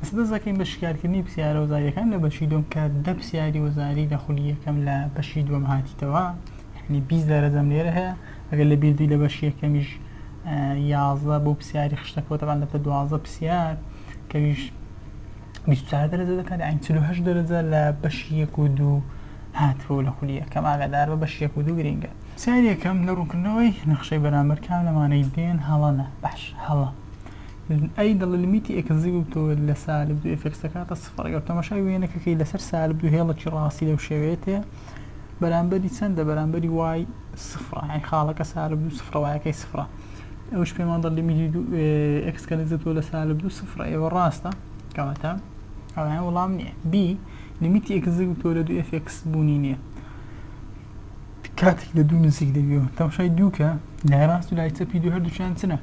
سپاس دەکەین بە شیکارکردنی پسیارە وزاریەکان لە بەشی دوم کە دە پسیاری وزاری لە خولی یەکەم لە بەشی دوم هاتیتەوە یعنی بیست دەرەجەم لێرە هەیە ئەگەر لە بیردوی لە بەشی یەکەمیش یازدە بۆ پسیاری خشتەکەوە تەبان دەبتە دوازدە پسیار کەویش بیست چوار دەرەجە دەکات یعنی چل و هەشت دەرەجە لە بەشی یەک و دوو هاتووە لە خولی یەکەم ئاگادار بە بەشی یەک و دوو گرینگە پسیاری یەکەم لە ڕوونکردنەوەی نەخشەی بەرامبەر کام لەمانەی دێن هەڵەنە باش هەڵە ئەی دەڵێ لمیتی ئێکسزی ببتەوە لە سالب دوو ئێفێکس دەکاتە سفڕ ئەگەر تەماشای وێنەکە کەی لەسەر سالب دوو هێڵەکی ڕاستی لەو شێوەیە تێ بەرامبەری چەندە بەرامبەری وای سفڕە ئەی خاڵەکە سالب دوو سفڕە وایەکەی سفڕە ئەوش پێمان دەڵ لمیتی دوو ئێکس کە نزیکەوە لە سالب دوو سفڕە ئێوە ڕاستە کەواتە ئەویان وەڵام نییە بی لمیتی ئێکسزی ببتەوە لە دوو ئێفێکس بوونی نییە کاتێک لە دوو نزیک دەبی و تەماشای دووکە لای ڕاست و لای چەپی دوو هەردووکیان چنە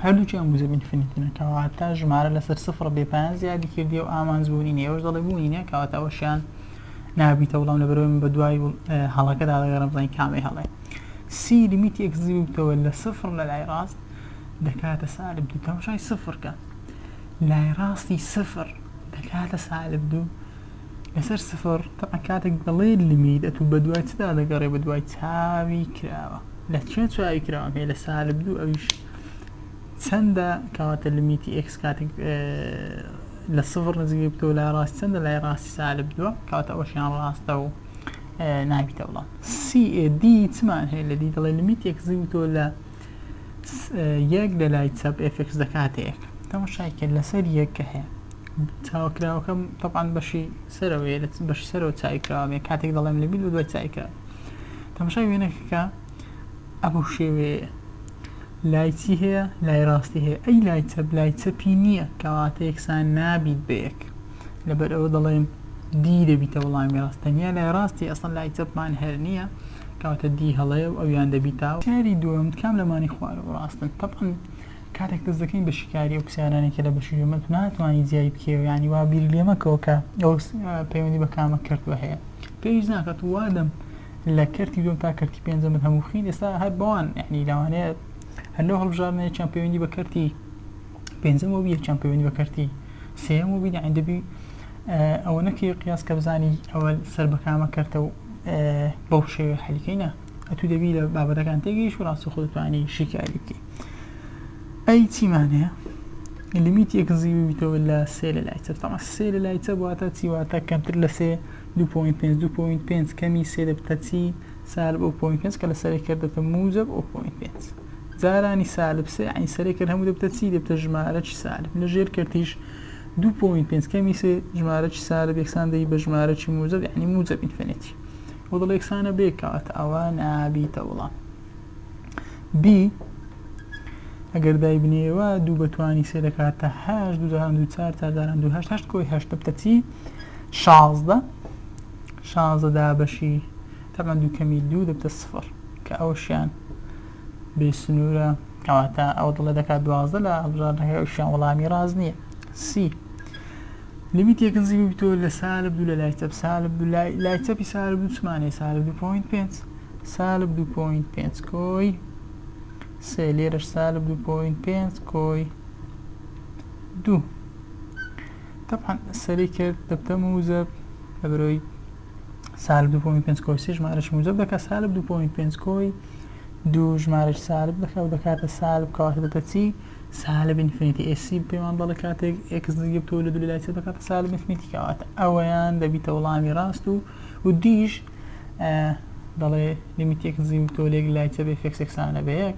هەردووکیان بوو زەبین فنیتنە کەواتە ژمارە لەسەر سفڕ بێ پایان زیادی کردی و ئامانج بوونی نێوەش دەڵێ بوونی نیە کەواتە ئەوەشیان نابیتە وڵام لە بەرەوەی من بە دوای هەڵەکەدا دەگەڕم بزانین کامەی هەڵێ سی لیمیتی ئەکزی بووتەوە لە سفڕ لە لای ڕاست دەکاتە سالب دوو تەماشای سفڕکە لای ڕاستی سفر دەکاتە سالب دوو لەسەر سفر تەبعەن کاتێک دەڵێی لمی دەتوو بەدوای چدا دەگەڕێ بەدوای چاوی کراوە لە چێ چاوی کراوە پێ لە سالب دوو ئەویش چەندە کەواتە لمیتی ئکس کاتێک لە سفر نزیک بتەوە لای ڕاست چەندە لای ڕاستی سالب دووە کاتە ئەوشیان ڕاستە و نابیتە بڵام CAD چمان هەیە لە دی دەڵێ لمیت یەکزی وتۆ لە یەک لە لای چەپ ئێفێکس دەکاتەیەک تەمەشای کرد لەسەر یەک کە هەیە چاوکراوەکەم تەبان بەشی سەرەوە بەشی سەرەوە چاویکراوە کاتێک دەڵێم لە بیل و دوای چایکراوە تەمەشای وێنەکەکە ئەبوو شێوەیە لای چی هەیە لای ڕاستی هەیە ئەی لای چەپ لای چەپی نییە کەواتە یەکسان نابیت بەیەک لەبەر ئەوە دەڵێن دی دەبیتە وەڵامی ڕاست تەنیا لای ڕاستی ئەسڵەن لای چەپمان هەر نییە کەواتە دی هەڵەیە و ئەویان دەبیتە پرسیاری دووەم کام لەمانی خوارە و ڕاستن تەبعەن کاتێک دەست دەکەین بە شیکاری ئەو پرسیارانەی کە لە بەشی دووەمە تو ناتوانی جیای بکەوێ یانی وا بیر لێ مەکەوە کە ئەو پەیوەندی بە کامە کەرتوە هەیە پێویست ناکات وا دەم لە کەرتی دووەم تا کەرتی پێنجەمت هەموو بخین ئێستا هەر بەوان یعنی لەوانەیە هەر لەو هەڵبژاردنەیەکیان پەیوەندی بە کەرتی پێنجەم وەبی یەکیان پەیوەندی بە کەرتی سێیەم وەبی دەعین دەبی ئەوە نەکەی قیاس کە بزانی ئەوە سەر بەکامە کەرتە و بەو شێوێ حەلیکەینە ئەتو دەبی لە بابەتەکان تێگەیش و ڕاستی خۆتوانی شیکاری بکەی ئەی چیمان هەیە لیمیت یەکزی ببیتەوە لە سێ لە لایتە تەمە سێ لە لایتە بواتە چیواتە کەمتر لە سێ 2.5 کەمی سێ دەبتە چی سار بۆ پوین پێنج کە لە سەرێک کردێتە موجب ئەو پوین پێنج جارانی سالب سێ عەین سەرێ کەر هەموو دەبتە چی دەبتە ژمارەکی سالب لە ژێر کەرتیش دوو پۆینت پێنج کەمی سێ ژمارەکی سالب یەکسان دەی بە ژمارەکی موجب یعنی موجب ئینفینیتی و دڵ یەکسانە بێ کات ئەوە نابیتە وڵام بی ئەگەر دای بنێەوە دوو بەتوانی سێ دەکاتە هەش دوو جاران دوو چار چار جاران دوو هەشت هەشت کۆی هەشت دەبتە چی شازدە شازدە دابەشی تەمەن دووکەمی دوو دەبتە سفر کە ئەوشیان بێ سنوورە کەواتە ئەو دڵێ دەکات دوازدە لە هەڵبژاردنەکەی ئەوشیان وەڵامی ڕاست نییە سی لیمیت یەک نزیک ببیتەوە لە سالب دوو لە لای چەپ سالب دوو لای لای چەپی سالب دوو چمانەیە سالب دوو پۆینت پێنج سالب دوو پۆینت پێنج کۆی سێ لێرەش سالب دوو پۆینت پێنج کۆی دوو طبعا سەری کرد دەبتە موزەب لە بەرەوەی سالب دوو پۆینت پێنج کۆی سێ ژمارەشی موجب دەکات سالب دوو پۆینت پێنج کۆی دوو ژمارەش سالب دەکات و دەکاتە سالب کەواتە دەتە چی سالب ئینفینیتی ئێسی پێمان بەڵێ کاتێک ئێکس نزیک بتەوە لە دوو لای چێ دەکاتە سالب ئینفینیتی کەواتە ئەوەیان دەبیتە وڵامی ڕاست و و دیش دەڵێ لیمیت ئێکس نزیک بتەوە لە یەک لای چێ بێ فێکس یەکسانە بە یەک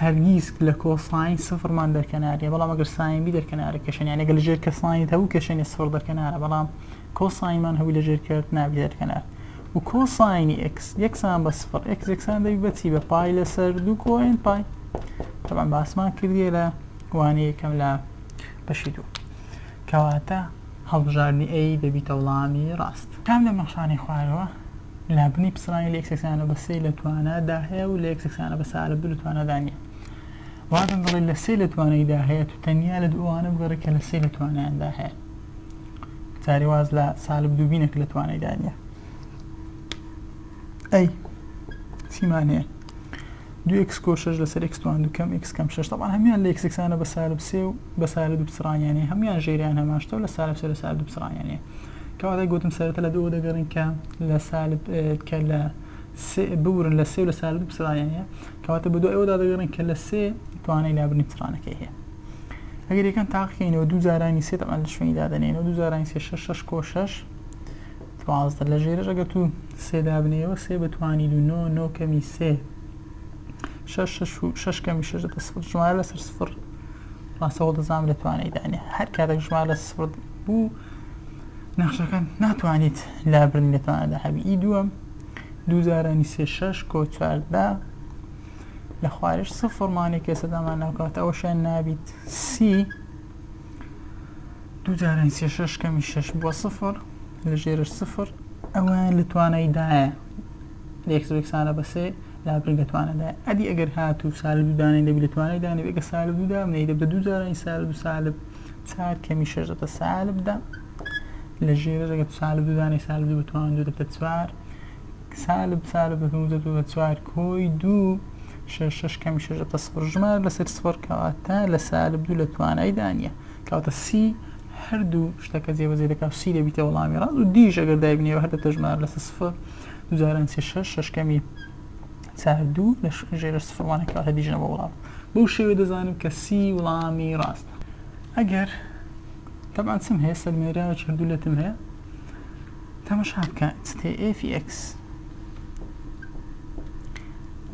هەرگیز لە کۆ ساین سفڕمان دەرکەنار نیە بەڵام ئەگەر ساین بی دەرکەنارە کێشەنی یانە گەل ژێر کە ساینت هەبوو کێشەنی سفڕ دەرکەنارە بەڵام کۆ ساینمان هەبوو لە ژێر کرد نابی دەرکەنار و کۆ ساینی ئکس یەکسان بە سفڕ ئکس یەکسان دەبی بەچی بە پای لەسەر دوو کۆین پای تەمان باسمان کردیە لە وانەیەکەم لە بەشی دوو کەواتە هەڵبژاردنی ئەی دەبیتە وڵامی ڕاست. کام لەم نەخشانەی خوارەوە لە بنی پسڕانی لە ئێکسێکس یانە بە سێ لە توانا دا هەیە و لە ئێکسێکس یانە بە سێ ئالە دوو لە توانا دا نییە؟ واتم دەڵێت لە سێ لە توانای دا هەیە تو تەنیا لە دوو ئەوانە بگەڕێ کە لە سێ لە توانایان دا هەیە. جارێ واز لە سالب دوو بینە کە لە توانای دا نییە. ئەی چیمان هەیە دو ئکس کۆ شش لەسەر ئکس توان دوکەم ئکس کەم شش تەبان هەمیان لە ئکسکسانە بە سالب سێ و بە سالب دوو بچڕانیانێ هەمیان ژێریان هەماشتەوە لە سالب سێ لە سالب دوو بچڕانیانێ کەواتە گوتم سەرەتا لە دوو دەگەڕین کە لە سالب کە لە ببورن لە سێ و لە سالب دوو بچڕانیانێ کەواتە بە دوو ئەوەدا دەگەڕین کە لە سێ توانای لابرنی بچڕانەکەی هەیە ئەگەر یەکان تاقیینەوە دوو جارانی سێ تەمان لە شوێنی دادەنێنەوە دوو جارانی سێ شش شش کۆ شش دوازدە لە ژێرەش ئەگەر تو سێ دابنێیەوە سێ بتوانیت و نۆ نۆ کەمی سێ شەش شەش و شەش کەمی شەش دەتە سفر ژمارە لەسەر سفر ڕاستەوە دەزانم لە توانای دانێ هەر کاتێک ژمارە لە سفر بوو نەخشەکان ناتوانیت لابرنی لە توانادا هەبی ئی دووەم دوو جارانی سێ شەش کۆ چواردە لە خوارش سفڕمانێک کەسەدامان ناوکات ئەوەشیان نابیت سی دوو جاران سێ شەش کەمی شەش بووە سفر لە ژێرش سفر ئەویان لە توانایدایە لەکسانە بەسێ لا بگە توانەدا ئەدی ئەگەر هات و سال دوودانی دەبی لە توانای دانی بگە سال دوودا منەی دەبە دوو جارانی سال دو سالب چار کەمی شەش دەتە سالبدا لە ژێرە دەگەت سال دوودانی سال دوو بتوان دوو دەبتە چوار سالب سالب بە پێنج دەبێ بە چوار کۆی دوو شەش شەش کەمی شەش دەبتە سفر ژمارە لەسەر سفر کەواتە لە سالب دوو لە توانایدا نییە کەواتە سی هەردوو شتەکە جێبەجێ دەکات و سی دەبیتە وەڵامی ڕاست و دیش ئەگەر دایبنێەوە هەر دەبتە ژمارە لەسەر سفر دووجاران سێ شەش شەش کەمی چار دوو لە ژێرە سفرمانە کەواتە دیژە بە وڵام بەو شێوێ دەزانم کە سی وڵامی ڕاستە ئەگەر تەبان چم هەیە سەلمێراوە چردوو لەتم هەیە تەمەشا بکە ستێئێفی ئێکس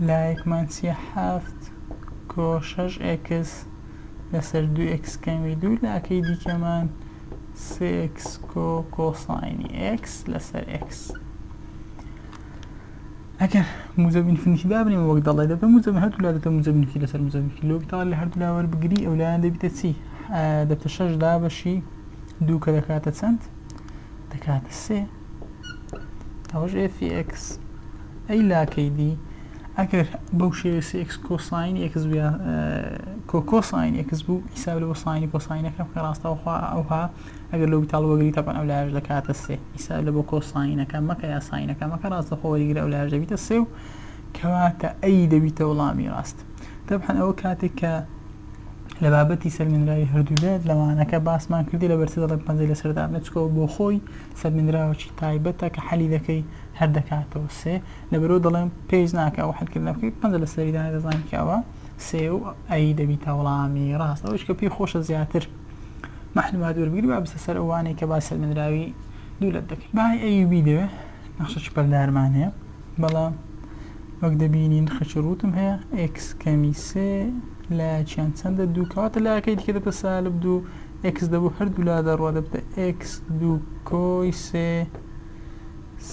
لایەکمان چیە حەفت کۆ شەش ئێکس لەسەر دوو ئێکس کەمی دوو لاکەی دیکەمان سێ ئێکس کۆ کۆساینی ئێکس لەسەر ئێکس ئەگەر موزە بینفنیکی دابنیم وەک دەڵێ دەبێ موزە هەردوو لا دەبێ موزە بینفی لەسەر موزە بینفی لۆک تا لە هەردوو لاوەر بگری ئەو لایەن دەبیتە چی دەبتە شەش دابەشی دوو کە دەکاتە چەند دەکاتە سێ ئەوەش ئێفی ئێکس ئەی لاکەی دی ئەگەر بەو شێوێ سێکس کۆساین ئێکس بیا کۆکۆساین ئێکس بوو حیساب لە بۆ ساینی کۆساینەکەم کە ڕاستەوخوا ئەوها ئەگەر لەو تاڵ وەگری تەپەن ئەو لاش دەکاتە سێ حیساب لە بۆ کۆساینەکە مەکە یا ساینەکە مەکە ڕاستەخۆ وەریگرە ئەو لاش دەبیتە سێ و کەواتە ئەی دەبیتە وڵامی ڕاست تەبحەن ئەوە کاتێک کە لە بابەتی سەلمێنراوی هەردوو لایەک لە وانەکە باسمان کردی لە بەرسە دەڵێن پەنجەی لەسەر دابنێ چکەوە بۆ خۆی سەلمێنراوەکی تایبەتە کە حەلیلەکەی هەر دەکاتەوە سێ لەبەرەوە دەڵێن پێویست ناکە ئەو حەلکردنە بکەیت پەنجە لەسەری دانێ دەزانین کە ئەوە سێ و ئەی دەبیتە وەڵامی ڕاست ئەوەش کە پێی خۆشە زیاتر معلومات وەربگری با بسە سەر ئەوانەی کە باس سەلمێنراوی دوولەت دەکەین بای ئەیوبی دەوێ نەخشە چپەلدارمان هەیە بەڵام وەک دەبینین خەچە رووتم هەیە ئێکس کەمی سێ لایەکیان چەندە دوو کەواتە لایەکەی دیکە دەبتە سالب دوو ئێکس دەبوو هەردوو لا دەڕوا دەبتە ئێکس دوو کۆی سێ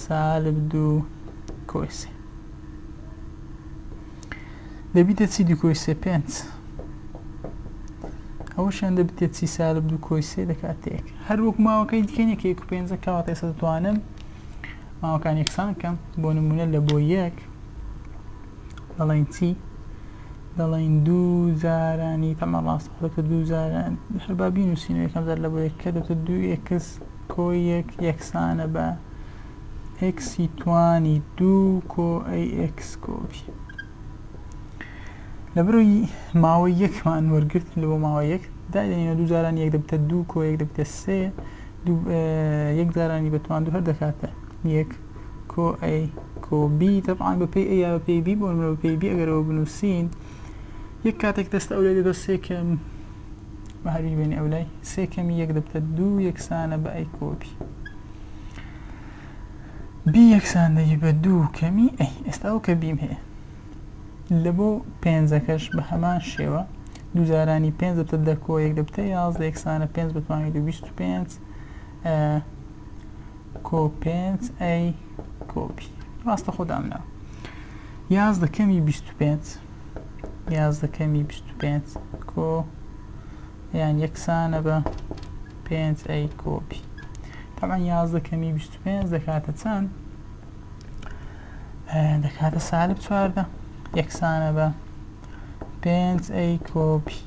سالب دوو کۆی سێ دەبیتە چی دوو کۆی سێ پێنج ئەوەشیان دەبتە چی سالب دوو کۆی سێ دەکاتێک هەروەک ماوەکەی دیکەنێکێک و پێنجە کەواتە ئێستا دەتوانم ماوەکان یەکسان کەم بۆ نمونە لە بۆ یەک دەڵین چی دەڵین دوو جارانی تەمە ڕاست دەکە دوو جاران هەربابی نووسین و یەکەم جار لە بۆ یەک کە دەتە دوو ئکس کۆ یەک یەکسانە بە ئکسی توانی دوو کۆ ئەی ئکس کۆپی لە بروی ماوە یەکمان وەرگرت لە بۆ ماوە یەک دادێنە دوو جاران یەک دەبتە دوو کۆ یەک دەبتە سێ دوو یەک جارانی بە توان دوو هەر دەکاتە یەک کۆ ئەی کۆ بی تەبعان بە پێی ئەیا بە پێی بی بۆ نمرە بە پێی بی ئەگەرەوە بنووسین یەک کاتێک دەستە ئەو لای دەبە سێ کەم بە هەروی بێنی ئەو لای سێ کەمی یەک دەبتە دوو یەکسانە بە ئەی کۆ بی بی یەکساندەی بە دوو کەمی ئەی ئێستا ئەو کە بیم هەیە لە بۆ پێنجەکەش بە هەمان شێوە، دوو جارانی پێنج دەبتە دە کۆ یەک دەبتە یازدە یەکسانە پێنج بە توانی دوو بیست و پێنج کۆ پێنج ئەی کۆپی ڕاستە خۆ دامنا یازدە کەمی بیست و پێنج یازدە کەمی بیست و پێنج کۆ یان یەکسانە بە پێنج ئەی کۆپی تەمان یازدە کەمی بیست پێنج دەکاتە چەند دەکاتە سالب چواردە یەکسانە بە پێنج ئەی کۆپی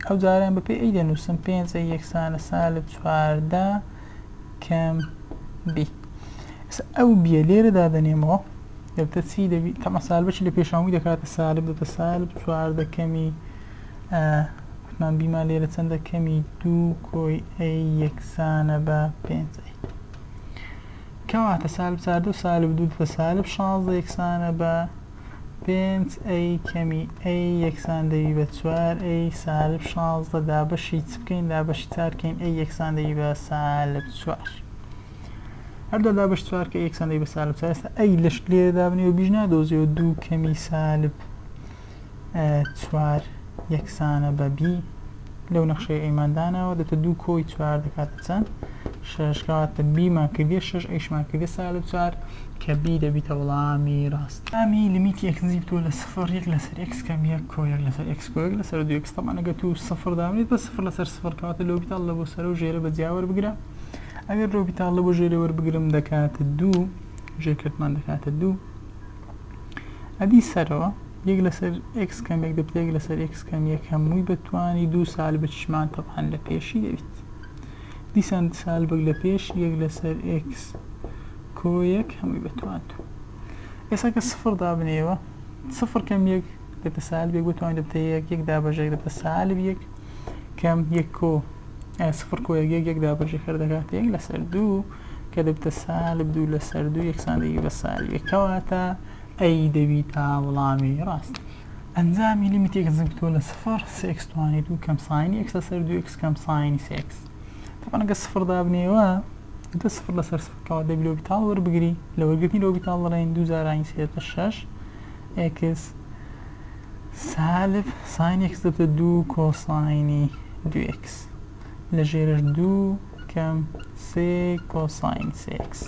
ئەو جاریان بە پێ ئەی دەنووسم پێنج ئەی یەکسانە سالب چواردە کەم بی ئەو بیە لێرە دادەنێمەوە دەبتە چی دەبی تەمە سالبەشی لە پێشاوی دەکاتە سالب دەتە سالب چواردە کەمی کوتمان بیمان لێرە چەندە کەمی دوو کۆی ئەی یەکسانە بە پێنج کەواتە سالب چاردە و سالب دوو دەتە سالب شازدە یەکسانە بە پێنج ئەی کەمی ئەی یەکسان دەوی بە چوار ئەی سالب شازدە دابەشی چ بکەین دابەشی چار بکەین ئەی یەکسان دەوی بە سالب چوار هەردە دابەش چوار کە یەکسان دەوی بە سالب چوار ئەی لەش لێ دابنی و بیژنا دۆزیەوە دوو کەمی سالب چوار یەکسانە بە بی لەو نەخشەی ئەیمان داناوە دەتە دوو کۆی چوار دەکاتە چەند شەش کەواتە بیمان کردە شەش ئەیشمان کردە سا لە چوار کە بی دەبیتە وەڵامی ڕاست ئەمی لمیتی ئەکسزی بتووە لە سفر یەک لەسەر ئەکس کەم یەک کۆ یەک لەسەر ئەکس کۆ یەک لەسەر دوو ئەکس تەمان ئەگەر تو سفر دابنێت بە سفر لەسەر سفر کەواتە لۆبیتاڵ لە بۆ سەرە و ژێرە بە جیا وەربگرە ئەگەر لۆبیتاڵ لە بۆ ژێرە وەربگرم دەکاتە دوو ژێرکردمان دەکاتە دوو ئەدی سەرەوە یەک لەسەر ئێکس کەم یەک دەبتە یەک لەسەر ئێکس کەم یەک هەمووی بە توانی دوو سال بچمان تەبعەن لە پێشی دەبیت دیسان سال بگ لە پێش یەک لەسەر ئێکس کۆ یەک هەمووی بە توان دوو ئێستا کە سفر دابنێەوە سفر کەم یەک دەبتە سال بێک بە توان دەبتە یەک یەک دابەژێک دەبتە سال یەک کەم یەک کۆ سفر کۆ یەک یەک یەک دابەژێ کردەکات یەک لەسەر دوو کە دەبتە سالب دوو لەسەر دوو یەکسانبی بە سالب یەک کەواتە ئەی دەبیتە وڵامی ڕاست ئەنجامی لیمیت ئێکس بتوە لە سفر سێکس توانی دوو کەم ساینی ئێکس لەسەر دوو ئێکس کەم ساینی سێکس تەبەنەگە سفر دابنێوە دە سفر لەسەر سفرکەوە دەبی لۆ بیتاڵ وەربگری لە وەرگرتنی لۆ بیتاڵ بڵێن دوو زارانی سێتە شەش ئێکس سالب ساین ئێکس دەبتە دوو کۆساینی دوو ئێکس لە ژێرش دوو کەم سێ کۆساین سێکس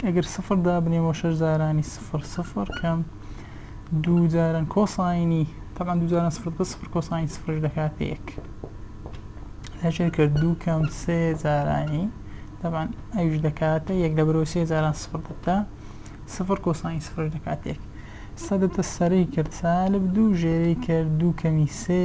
ئەگەر سفر دابنێمەوە شەش جارانی سفر سفر کەم دوو جاران کۆساینی تەمان دوو جاران سفر بە سفر کۆساین سفرش دەکاتە یەک لەژێر کرد دوو کەم سێ جارانی تەمان ئەوش دەکاتە یەک لە برۆ سێ جاران سفر دەتا سفر کۆساین سفر دەکات یەک سەدەتە سەرەی کرد سالب دوو ژێری کرد دوو کەمی سێ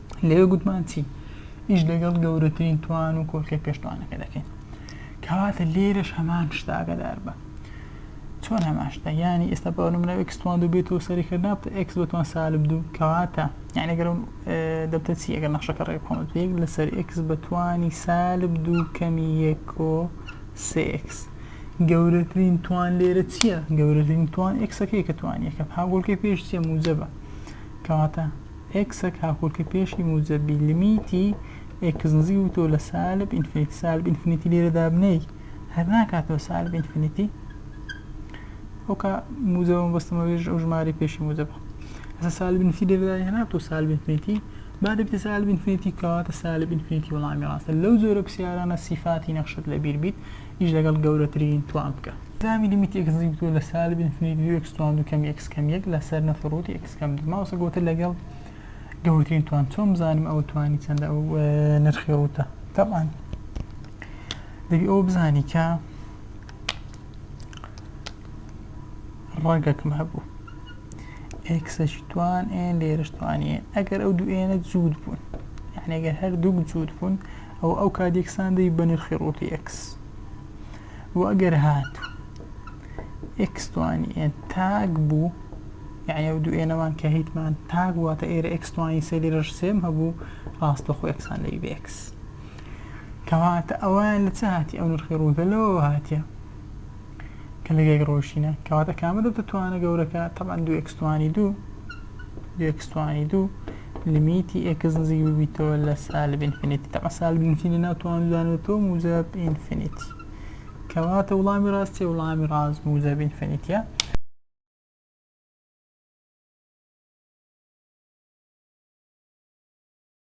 لەوێ گوتمان چی؟ ئیش لەگەڵ گەورەترین توان و کۆرکەی پێشتوانەکە دەکەین کەواتە لێرەش هەمان شتاگەدار بە چۆن هەمان شتە یانی ئێستا بە نمونە ئەکستوان دوو بێتەوە سەری کردنات ئەکس بەتوان سالب دوو کەواتە یعنی گەرم دەبتە چی ئەگەر نەخشەکە ڕێ بخۆمە پێک لەسەر ئەکس بەتوانی سالب دوو کەمی یەکۆ سێکس گەورەترین توان لێرە چییە گەورەترین توان ئەکسەکەی کە توانیەکە هاگۆڵکەی پێش چیە موجەبە کەواتە ئێکسەک هاوکۆلکە پێشی موجەب بی لمیتی ئێکس نزیک بووتەوە لە سالب ئینفینیتی سالب ئینفینیتی لێرە دابنێی هەر ناکاتەوە سالب ئینفینیتی ئەوکا موجەبە مەبەستمە وێژ ئەو ژمارەی پێشی موجەبە هەسا سالب ئینفینیتی لێرە دابنێی هەر ناتەوە سالب ئینفینیتی با دەبێتە سالب ئینفینیتی کەواتە سالب ئینفینیتی وەڵامی ڕاستە لەو جۆرە پرسیارانە سیفاتی نەخشت لەبیر بیت ئیش لەگەڵ گەورەترین توان بکە. ئەنجامی لیمیتی ئێکس نزیک بکەوە لە سالب ئینفینیتی دوو ئێکس توان دوو کەم ئێکس کەم یەک لەسەر نەفی ڕووتی ئێکس کەم دوو. مامۆستا گۆتت لەگەڵ گەورەترین توان چۆن بزانم ئەوە توانی چەندە ئەو نرخی ڕووتە تەبعەن دەبی ئەوە بزانی کە ڕەگەکم هەبوو ئێکسەشی توان ئێن لێرش توانیە ئەگەر ئەو دوو ئێنە جوود بوون یعنی ئەگەر هەر دوو جوود بوون ئەوە ئەو کات یەکسان دەبی بە نرخی ڕووتی ئێکس و ئەگەر هاتوو ئێکس توانی ئێن تاک بوو یعنی ئەو دوو ئێنەمان کە هیتمان تاک واتە ئێرە ئێکس توانی سێ لێرەش سێم هەبوو ڕاستە خۆ ئێکسان دەبی بە ئێکس کەواتە ئەوان لە چ هاتی ئەو نرخی ڕووتە لەوە هاتیە کە لە گێگ ڕۆیشتینە کەواتە کامە دەبتە توانە گەورەکە تەبان دو ئکس توانی دوو دو ئکس توانی دوو لمیتی ئکس نزیک ببیتەوە لە سالب ئینفینیتی تەبا سالب ئینفینیتی ناو توانودانێتەوە موجب ئینفینیتی کەواتە وڵامی ڕاستی وڵامی ڕاست موجب ئینفینیتیە